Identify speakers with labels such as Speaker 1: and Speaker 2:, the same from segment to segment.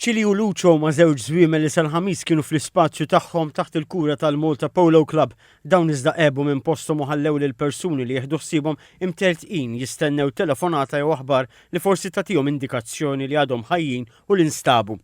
Speaker 1: Chili u Luċo ma' żewġ żwiemel li sal-Ħamis kienu fl-ispazju tagħhom taħt il-kura tal-Malta Polo Club. Dawn iżda għebu minn posthom u ħallew lill-persuni li jieħdu ħsiebhom imtertqin jistennew telefonata jew aħbar li forsi tagħtihom indikazzjoni li għadhom ħajjin u li nstabu.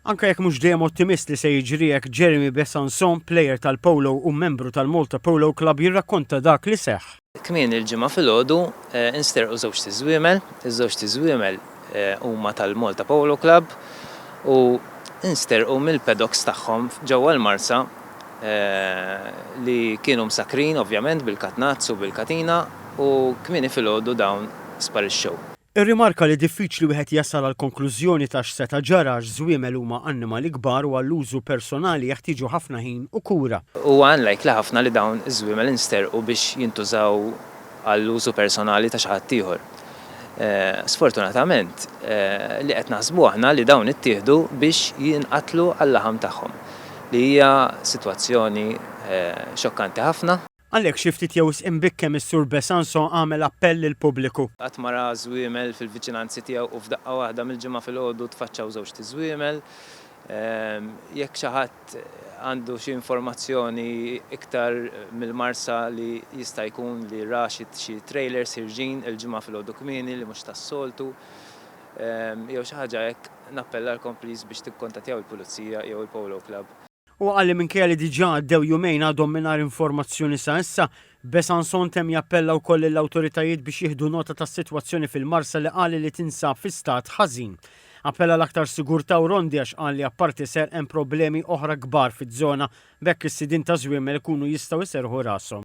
Speaker 1: Anke jekk mhux dejjem ottimist li se jiġri hekk, Jeremy Besançon, plejer tal-Polo u membru tal-Malta Polo Club jirrakkonta dak li seħħ. Kmieni il-Ġimgħa
Speaker 2: filgħodu nsterqu żewġt iżwiemel. Iż-żewġt iżwiemel huma tal-Malta Polo Club u nsterqu mill-paddocks tagħhom ġewwa l-Marsa li kienu msakkrin ovvjament bil-katnazz u bil-katina u kmieni filgħodu dawn sparixxew. Irrimarka li
Speaker 1: diffiċli wieħed jasal għall-konklużjoni ta' x'seta' ġara għax żwiemel huma annimali kbar u għall-użu personali jeħtieġu ħafna ħin u kura. Huwa unlikely
Speaker 2: ħafna li dawn iż-żwiemel insterqu biex jintużaw għall-użu personali ta' xi ħadd ieħor. Sfortunatament, li qed naħsbu aħna li dawn ittieħdu biex jinqatlu għal-laħam tagħhom, li hija sitwazzjoni xokkanti ħafna. Għalhekk xi ftit jew
Speaker 1: wisq imbikkem is-Sur Besançon għamel appell lill-pubbliku. Qatt ma ra żwiemel
Speaker 2: fil-viċinanzi tiegħu u f'daqqa waħda mill-Ġimgħa filgħodu tfaċċaw żewġt iżwiemel. Jekk xi ħadd għandu xi informazzjoni iktar mill-Marsa li jista' jkun li ra xi trailers ħirġin il-Ġimgħa filgħodu kmieni li mhux tas-soltu jew xi ħaġa hekk nappellalkom please biex tikkontattjaw il-Pulizija jew il-Polo Club. Huwa qal li minkejja
Speaker 1: li diġà għaddew jumejn għadhom mingħajr informazzjoni sa issa, Besançon temm jappella wkoll lill-awtoritajiet biex jieħdu nota tas-sitwazzjoni fil-Marsa li qal li tinsab fi stat ħażin. Appella għal aktar sigurtà u rondi għax qal li apparti serq hemm problemi oħra kbar fiż-żona b'hekk is-sidien taż-żwiemel ikunu jistgħu jserrħu rashom.